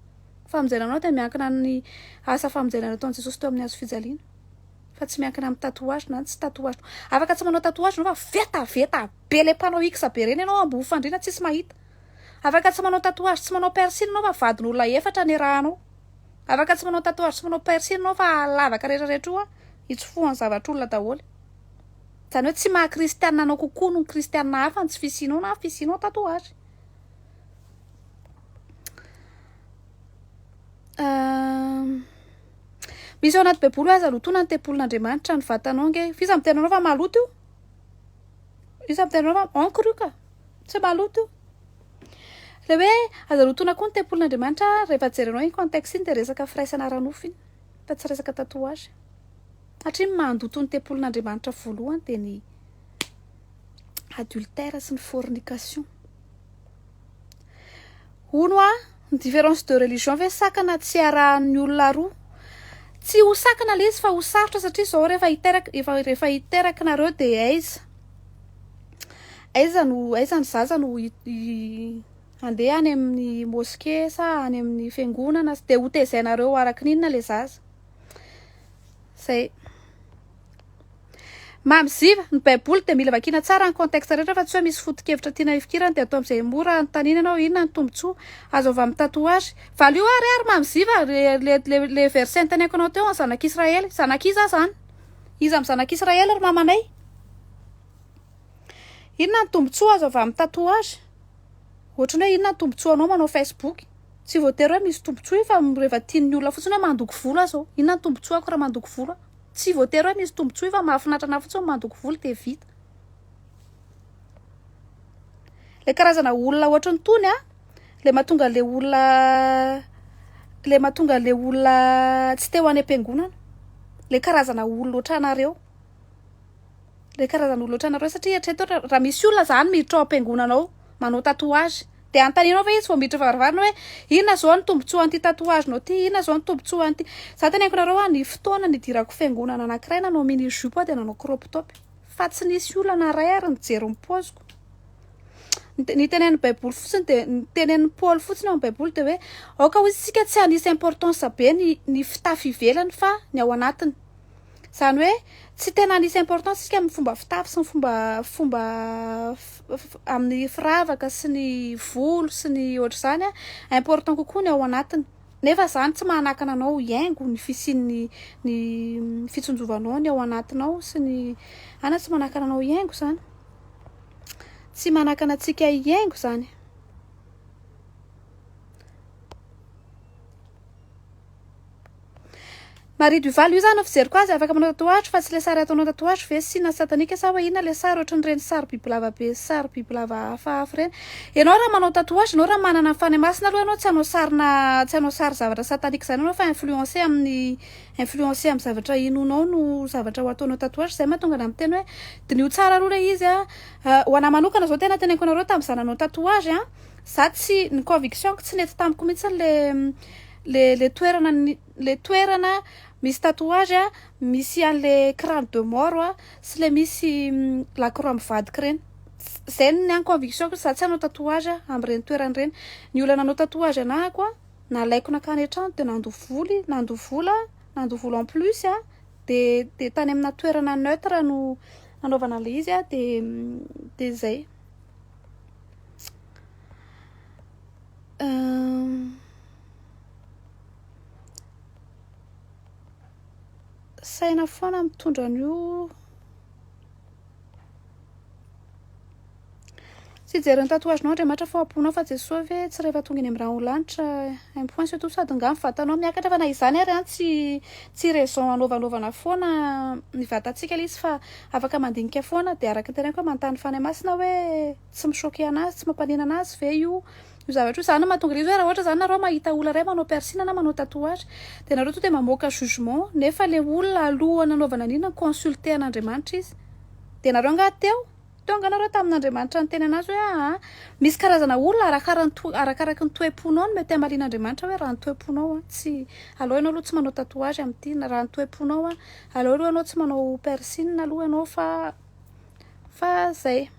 Famonjena anao dia miankina amin'ny asa famonjena nataon'i Jesosy teo amin'ny hazo fijaliana. Fa tsy miankina amin'ny tatouage na tsy tatouage-nao. Afaka tsy manao tatouage ianao fa vetaveta be ilay mpanao X be ireny ianao amboho fandriana tsisy mahita. Afaka tsy manao tatouage tsy manao piercing ianao fa vadin'olona efatra no irahanao. Afaka tsy manao tatouage tsy manao piercing ianao fa lavaka rehetra rehetra io an, itsofohan'ny zavatr'olona daholo. Izany hoe tsy maha kristianina anao kokoa noho ny kristianina hafa ny tsy fisianao na fisianao tatouage. Misy ao anaty baiboly hoe aza lotoina ny tempolin'Andriamanitra ny vatanao ange. F'iza miteny anao fa maloto io? Iza miteny anao fa encre io ka? Tsy maloto io. Le hoe aza lotoina koa ny tempolin'Andriamanitra rehefa jerenao iny contexte iny dia resaka firaisana ara-nofo iny fa tsy resaka tatouage. Satria ny mandoto ny tempolin'Andriamanitra voalohany dia ny adultère sy ny fornication. Hono hoa, ny différence de religion ve sakana tsy iarahan'ny olona roa? Tsy ho sakana ilay izy fa ho sarotra satria izao rehefa hiteraka, efa rehefa hiteraka nareo dia aiza? Aiza no, aiza ny zaza no handeha any amin'ny mosquée sa any amin'ny fiangonana? Dia hotezainareo araka ny inona ilay zaza? Zay. Mamziva, ny baiboly dia mila vakiana tsara ny contexte rehetra fa tsy hoe misy foto-kevitra tiana hifikirana dia atao amin'izay mora anontaniana ianao hoe inona ny tombontsoa azo avy amin'ny tatouage. Valio ary ary mamziva le verset niteneniko anao teo ny zanak'Israely. Zanak'iza zany? Iza amin'ny zanak'Israely ry mamanay? Inona ny tombontsoa azo avy amin'ny tatouage? Ohatran'ny hoe inona ny tombontsoanao manao Facebook? Tsy voatery hoe misy tombontsoa io fa rehefa tian'ny olona fotsiny hoe mandoko volo aho izao. Inona ny tombontsoako raha mandoko volo aho? Tsy voatery hoe misy tombontsoa io fa mahafinaritra anà fotsiny ny mandoko volo dia vita. Ilay karazana olona ohatran'itony an, ilay mahatonga an'ilay olona ilay mahatonga an'ilay olona tsy te ho any am-piangonana, ilay karazana olona ohatranareo. le karazana olona otranareo satria eritrereto ohatra raha misy olona zany miditra ao ampiangonana ao manao tatouage de anontanianao ve izy vao miditra varavarana hoe inona zao ny tombotsoa an'ity tatouage nao ty inona zao ny tombotsoa an'ity za teneniko nareo hoe ny fotoana nidirako fiangonana anakiray nanao mini jupe aho de nanao crop top fa tsy nisy olana ray ary nijery ny poziko ny tenenin'ny baiboly fotsiny dia ny tenenin'ny paoly fotsiny ao amin'ny baiboly dia hoe aoka ho izy isika tsy hanisy importance be ny ny fitafy ivelany fa ny ao anatiny Izany hoe tsy tena anisy importance isika amin'ny fomba fitafy sy ny fomba fomba amin'ny firavaka sy ny volo sy ny ohatr'izany a, important kokoa ny ao anatiny. Nefa izany tsy manakana anao hihaingo ny fisian'ny ny fitsinjovanao ny ao anatinao sy ny a na tsy manakana anao hihaingo izany. Tsy manakana antsika hihaingo izany. Marie Duval io zany no fijeriko azy afaka manao tatouage fa tsy ilay sary ataonao tatouage ve sy na satanique sa hoe inona ilay sary ohatran'ireny sary bibilava be sy sary bibilava hafahafa ireny ianao raha manao tatouage ianao raha manana ny fanahy masina aloha ianao tsy hanao sarina tsy hanao sary zavatra satanique izany ianao fa influencé amin'ny influencé amin'ny zavatra hinoanao no zavatra ho ataonao tatouage izay mahatonga anà miteny hoe diniho tsara aloha ilay izy a ho anà manokana izao tena teneniko anareo tamin'izaho nanao tatouage a Za tsy, ny conviction-ko tsy nety tamiko mihitsy le le le toerana le toerana misy tatouage a misy an'le crane de mort a sy le misy la croix mivadika ireny. Zay ny ahy ny conviction-ko, za tsy hanao tatouage amin'ireny toerana ireny. Ny olona nanao tatouage anahy koa nalaiko nankany an-trano dia nandoa voly nandoa vola nandoa vola en plus a de de tany amina toerana neutre no nanaovana an'le izy a de de zay. Saina foana mitondra an'io Tsy hijery ny tatouage-nao Andriamanitra fa hohaboinao fa Jesoa ve tsy rehefa tonga eny amin'ny rano lanitra un point c'est tout sady nga ny vatanao miakatra fa na izany ary an tsy tsy raison hanaovanaovana foana ny vatantsika ilay izy fa Afaka mandinika foana dia araka ny teneniko hoe manontany ny Fanahy Masina hoe tsy mi choquer anazy, tsy mampaninona anazy ve io io zavatra io, zany no mahatonga izy hoe raha ohatra zany nareo mahita olona iray manao piercing na manao tatouage dia nareo tonga dia mamoaka jugement nefa le olona alohan'ny nanaovana an'iny ni consulter an'Andriamanitra izy dia nareo angaha teo, teo angaha nareo tamin'Andriamanitra niteny anazy hoe aa misy karazana olona arakara ny to arakaraky ny toe-ponao no mety hamalian'Andriamanitra hoe raha ny toe-ponao an tsy aleo ianao aloha tsy manao tatouage amin'ity na raha ny toe-ponao an Aleo aloha ianao tsy manao piercing aloha ianao fa fa zay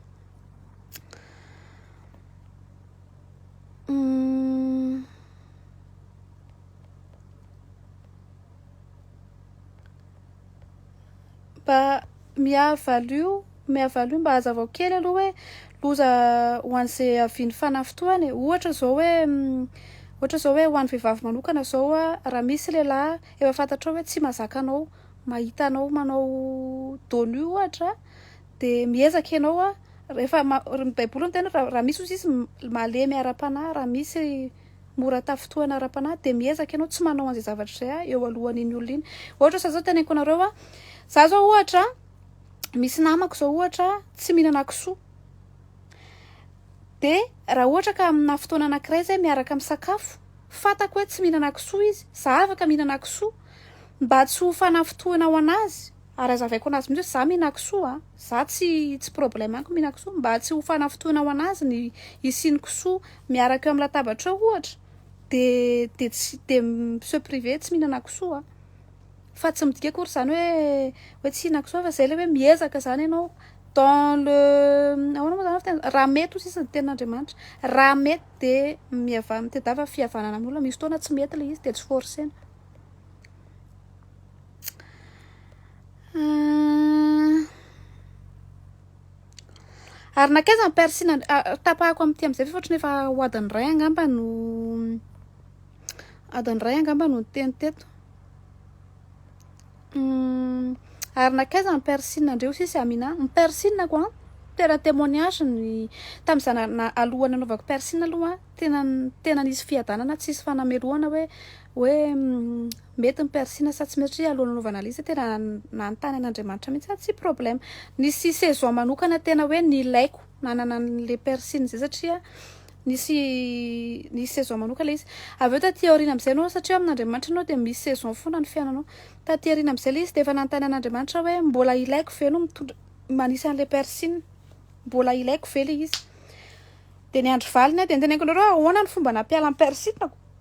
mba mihavalo io mihavalo io mba hazavao kely aloha hoe loza ho an'izay haviany fanafitohana e ohatra zao hoe ohatra zao hoe ho an'ny vehivavy manokana zao a raha misy lehilahy Efa fantatrao hoe tsy mazaka anao mahita anao manao dos nu ohatra dia miezaka ianao a rehefa ny baiboly no tena raha misy ozy izy malemy ara-panahy raha misy mora tafintohana ara-panahy dia miezaka ianao tsy manao an'izay zavatra izay a eo alohan'iny olona iny ohatra zao zao teneniko anareo a za zao ohatra misy namako zao ohatra tsy mihinana kisoa dia raha ohatra ka amina fotoana anankiray zay miaraka misakafo Fantako hoe tsy mihinana kisoa izy. Za afaka mihinana kisoa. Mba tsy ho fanafintohina ho anazy, ary azavaiko anazy mihitsy hoe za mihinana kisoa a. Za tsy tsy problème amiko mihinana kisoa. Mba tsy ho fanafintohina ho anazy ny hisian'ny kisoa miaraka eo amin'ny latabatra eo ohatra, dia dia tsy dia mi-se priver tsy mihinana kisoa. Fa tsy midika akory izany hoe hoe tsy hihinana kisoa fa izay ilay hoe miezaka izany ianao dans le, ahoana moa izany ny fiteny, raha mety hoy sisa ny tenin'Andriamanitra. Raha mety. de miava mitadiava fihavanana amin'ny olona misy fotoana tsy mety le izy de tsy forcena ary nankaiza ny persina tapahako amin'ity amin'izay ve ohatrany efa ho adin'ny iray angamba no adin'ny iray angamba no niteny teto Humm ary nakaiza ny piercing ndry osis et Amina? Ny piercing ko an tena temoignage ny tam za na aloha nanaovako piercing aloha tena tena nisy fiadanana tsy nisy fanamelohana hoe hoe mety ny piercing sa tsy mety satria alohan'ny nanaovana anle izy tena nanontany an'Andriamanitra mihitsy aho tsy problème nisy saison manokana tena hoe nilaiko nanana anle piercing zay satria Nisy nisy saison manoka ilay izy. Avy eo taty aoriana amin'izay ianao, satria ao amin'Andriamanitra ianao dia misy saison foana ny fiainanao. Taty aoriana amin'izay ilay izy dia efa nanontany an'Andriamanitra hoe mbola ilaiko ve no mitondra manisa an'ilay piercing? Mbola ilaiko ve ilay izy? Dia ny andro valiny dia noteneniko anareo hoe ahoana ny fomba nampiala ny piercing-ko?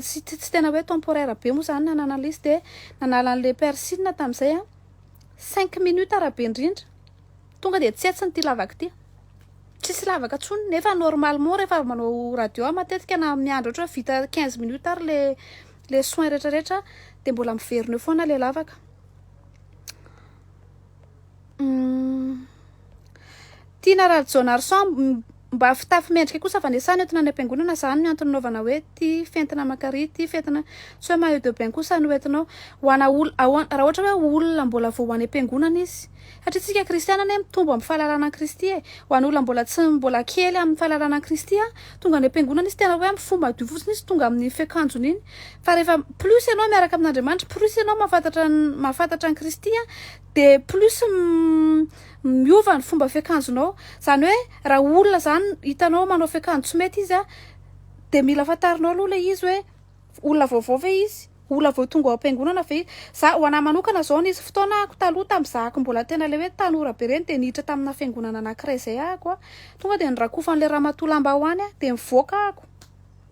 tsy tena hoe temporaire be moa zany nananan'ilay izy dia nanala an'ilay persil tamin'izay aho, cinq minutes raha be indrindra, tonga dia tsy hetsiny ity lavaka ity, tsisy lavaka intsony nefa normalement rehefa avy manao radio aho matetika na miandry ohatra hoe vita quinze minutes ary ilay ilay soins retraretra dia mbola miverina eo foana ilay lavaka. Tiana Rajaonarison mba fitafy mendrika kosa fanesana entina any am-piangonana izany no antony nanaovana hoe ity fentina aman-kary ity fentina tsy hoe maillot de bain kosa no entinao ho ana ol- ahoan- raha ohatra hoe olona mbola vao ho any am-piangonana izy satria isika kristiana anie mitombo amin'ny fahalalana an'i Kristy e ho an'ny olona mbola tsy mbola kely amin'ny fahalalana an'i Kristy a tonga any am-piangonana izy tena hoe amin'ny fo madio fotsiny izy tonga amin'ny fiakanjony iny Fa rehefa plus ianao miaraka amin'Andriamanitra, plus ianao mahafantatra ny mahafantatra an'i Kristy an, dia plus miova ny fomba fiakanjonao. Izany hoe raha olona izany hitanao manao fiakanjo tsy mety izy an, dia mila fantarinao aloha ilay izy hoe olona vaovao ve izy, olona vao tonga ao am-piangonana ve izy. Za ho anahy manokana izao nisy fotoana ahako taloha tamin'ny zahako mbola tena ilay hoe tanora be ireny dia niditra tamina fiangonana anankiray izay ahako an, tonga dia norakofan'ilay ramatoa lambahoany an, dia nivoaka ahako.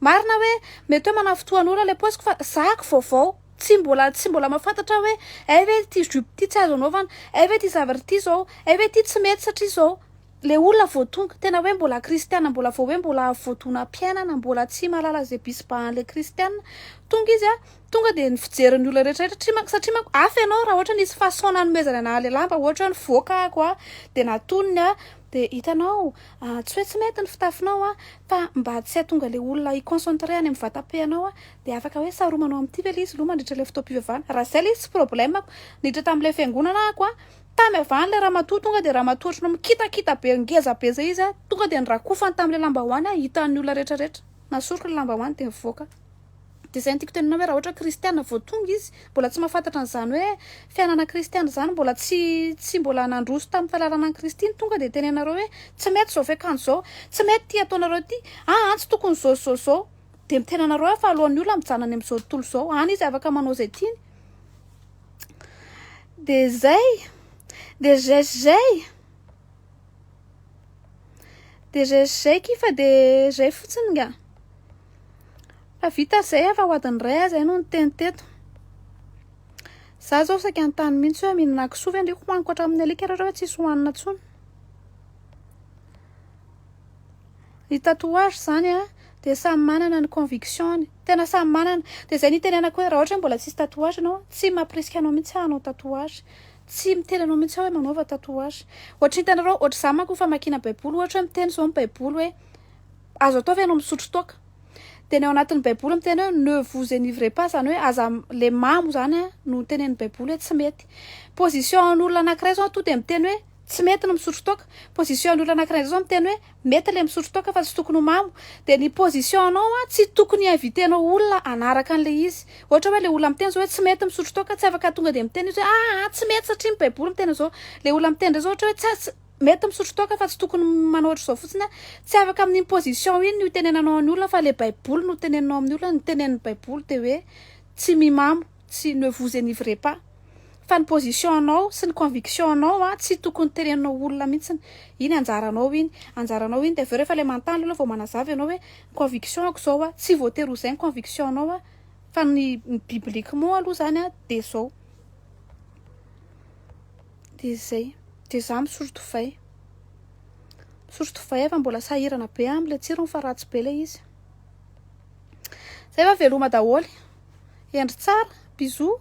Marina hoe mety hoe manafitoan'ora ilay paosiko fa zahako vaovao, tsy mbola tsy mbola mahafantatra aho hoe hay ve ity jupe ity tsy azo anaovana, hay ve ity zavatra ity izao, hay ve ity tsy mety satria izao. Ilay olona vao tonga, tena hoe mbola kristiana mbola vao hoe mbola avy vao donam-piainana, mbola tsy mahalala izay bisibahan'ilay kristiana. Tonga izy, tonga dia ny fijerin'ny olona rehetrarehetra, satria manko satria manko hafa ianao raha ohatra hoe nisy façon nanomezana an'ahy ilay lamba ohatra hoe nivoaka aho dia natoniny aho, Dia hitanao ah, tsy hoe tsy mety ny fitafinao ah, fa mba tsy hahatonga ilay olona hi-concentrer any amin'ny vatam-pehanao ah, dia afaka hoe saromanao amin'ity ve ilay izy aloha mandritra ilay fotoam-pivavahana, raha izay ilay izy tsy problème-ko, niditra tamin'ilay fiangonana ah-ko ah, tamy havan'ilay ramatoa tonga dia ramatoa ohatran'ny hoe mikitakita be, ngeza be izay izy ah, tonga dia nirakofany tamin'ilay lambahoany ah, hitan'ny olona rehetra rehetra, nasoriko ilay lambahoany dia nivoaka. Dia izay no tiako tenenina hoe raha ohatra kristiana vao tonga izy, mbola tsy mahafantatra an'izany hoe fiainana kristiana izany, mbola tsy tsy mbola nandroso tamin'ny fahalalana an'i Kristy ny tonga dia tenenanareo hoe tsy mety izao fiakanjo izao, tsy mety ity ataonareo ity, aa tsy tokony izao izao izao. Dia ny tenanareo afa alohan'ny olona mijanona any amin'izao tontolo izao, any izy afaka manao izay tiany. Dia izay. Dia izay sy izay. Dia izay sy izay akia fa dia izay fotsiny ngah. Fa vita izay aho fa ho adin'ny iray aho izay no niteny teto. Za zao saika an-tany mihitsy hoe mihinana kisoa ve ndry hohaniko hatramin'ny alika raha hoe tsisy hohanina intsony. Ny tatouage izany an, dia samy manana ny conviction-ny. Tena samy manana. Dia izay nitenenako hoe raha ohatra hoe mbola tsisy tatouage ianao, tsy mampirisika anao mihitsy aho hanao tatouage. Tsy miteny anao mihitsy aho hoe manaova tatouage. Ohatry ny hitanareo, ohatry izaho manko famakiana baiboly, ohatra hoe miteny izao ny baiboly hoe. Azo atao ve ianao misotro toaka? Dia ny ao anatin'ny Baiboly miteny hoe ne vous enivrez pas, izany hoe aza ilay mamo izany no tenenin'ny Baiboly hoe tsy mety. Position an'olona anankiray izao tonga dia miteny hoe tsy mety ny misotro toaka. Position an'olona anankiray indray izao miteny hoe mety ilay misotro toaka fa tsy tokony ho mamo. Dia ny position anao tsy tokony hi-inviter-nao olona hanaraka an'ilay izy. Ohatra hoe ilay olona miteny izao hoe tsy mety ny misotro toaka, tsy afaka tonga dia miteny izy hoe ah, ah, tsy mety satria ny Baiboly miteny an'izao. Ilay olona miteny indray izao ohatra hoe tsy, Mety misotro toaka fa tsy tokony manao ohatr'izao fotsiny a! Tsy afaka amin'iny position iny ny ho tenenanao an'ny olona fa le baiboly no teneninao amin'ny olona, ny tenenin'ny baiboly dia hoe tsy mimamo, tsy ne vous enivrez pas. Fa ny position anao sy ny conviction anao a, tsy tokony teneninao olona mihitsiny. Iny anjaranao iny, anjaranao iny dia avy eo rehefa le manontany le olona vao manazava ianao hoe ny conviction-ko izao a, tsy voatery ho izay ny conviction-nao a, fa ny ny bibliquement aloha izany a dia izao. Dia izay. Dia izaho misory divay. Misory divay aho fa mbola sahirana be aho amin'ilay tsirony fa ratsy be ilay izy. Izay fa veloma daholo. Hendry tsara. Bisous.